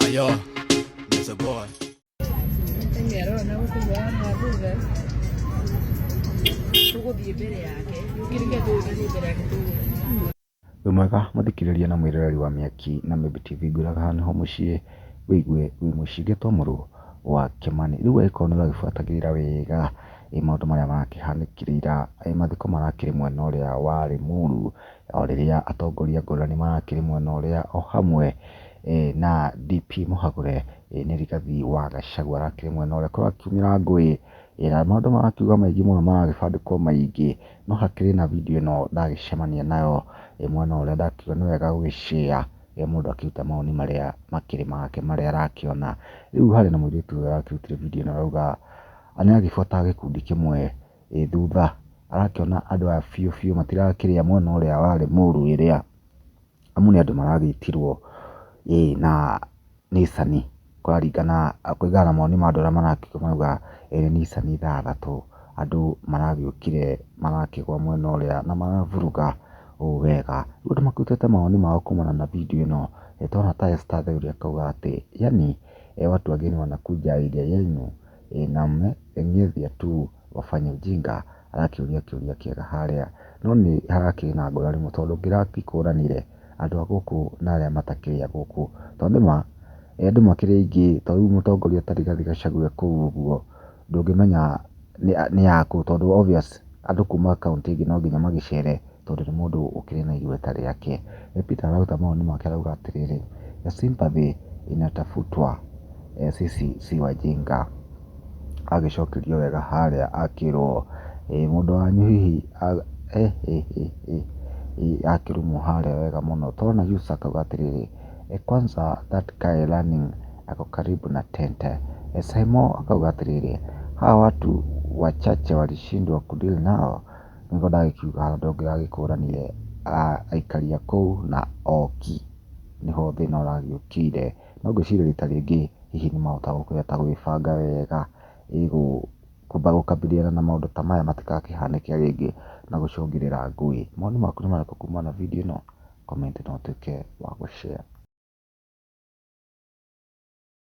Ayo, there's a boy. Wĩ mwega mũthikĩrĩria na mwĩroreri wa Mĩaki na Mĩmbi TV ngwĩraga haha nĩho mũciĩ wĩigue wĩ mũciĩ ngĩtomorwo wa Kĩmani. Rĩu agĩkorwo nĩ ũragĩbuatagĩrĩra wega ĩ maũndũ marĩa marakĩhanĩkire ira, ĩ mathiko marakĩrĩ mwena ũrĩa wa Rĩmuru, o rĩrĩa atongoria ngũrani marakĩrĩ mwena ũrĩa o hamwe na DP Mũhagũre nĩ Rigathi wa Gachagua arakĩrĩ mwena ũrĩa kũrakiumĩra ngũĩ na maũndũ marakiuga maingĩ mũno maragĩbandĩkwo maingĩ no hakĩrĩ na video ĩno ndagĩcemania nayo mwena ũrĩa ndakiuga nĩ wega gũgĩ share mũndũ akĩruta mawoni marĩa makĩrĩ make marĩa arakĩona. Rĩu harĩ na mũirĩtu ũyũ ũrakĩrutire video ĩno arauga nĩ aragĩbuata gĩkundi kĩmwe ĩ thutha, arakĩona andũ aya biũ biũ matirakĩrĩa mwena ũrĩa warĩ mũru ĩrĩa, amu nĩ andũ maragĩtirwo ĩ na nicani, kũraringana kũringana na mawoni ma andũ arĩa marakĩrĩa marauga ĩrĩ nicani ithathatũ, andũ maragĩũkire marakĩgũa mwena ũrĩa na maraburuka ũũ wega, rĩu andũ makĩrutĩte mawoni mao kumana na bindiũ ĩno, nĩ tũrona ta Esther Athuri akauga atĩ, yaani watu wageni wanakuja area yenu ĩĩ na me eng'ĩthia tu wafanya ujinga arakĩũria kĩũria kĩega harĩa. No nĩ harakĩrĩ na ngũrani mũno tondũ ndĩrakĩkũranire andũ a gũkũ na arĩa matakĩrĩ a gũkũ. To nĩ ma andũ makĩrĩ aingĩ ta rĩu mũtongoria ta Rigathi Gachagua e kũu ũguo ndũngĩmenya nĩ a kũ tondũ obvious andũ kuma kaũntĩ ĩngĩ no nginya magĩcere tondũ nĩ mũndũ ũkĩrĩ na igweta rĩake. We Peter araruta mawoni make arauga atĩrĩrĩ, the sympathy inatafutwa sisi si wajinga. Agĩcokerio wega harĩa akĩrwo mũndũ wanyu hihi he he he he akĩrumwo harĩa wega mũno. Tũrona Yusa akauga atĩrĩrĩ, kwanza that guy running ako karibu na tent. Simon akauga atĩrĩrĩ, hawa watu wachache walishindwa kudeal nao. Nĩguo ndagĩkiuga hau ndũngĩragĩkũranirie aikari a kũu na oki, nĩho thĩna ũragĩũkire. No ngwĩciria rita rĩngĩ hihi nĩ mahota kũhota gũgĩbanga wega kwamba gũkambĩrĩria na maũndũ ta maya matigakĩhanĩke rĩngĩ na gũcũngĩrĩra ngũĩ. Mawoni maku nĩ marĩkũ kumana na video ĩno? Comment na ũtuĩke wa gũ share.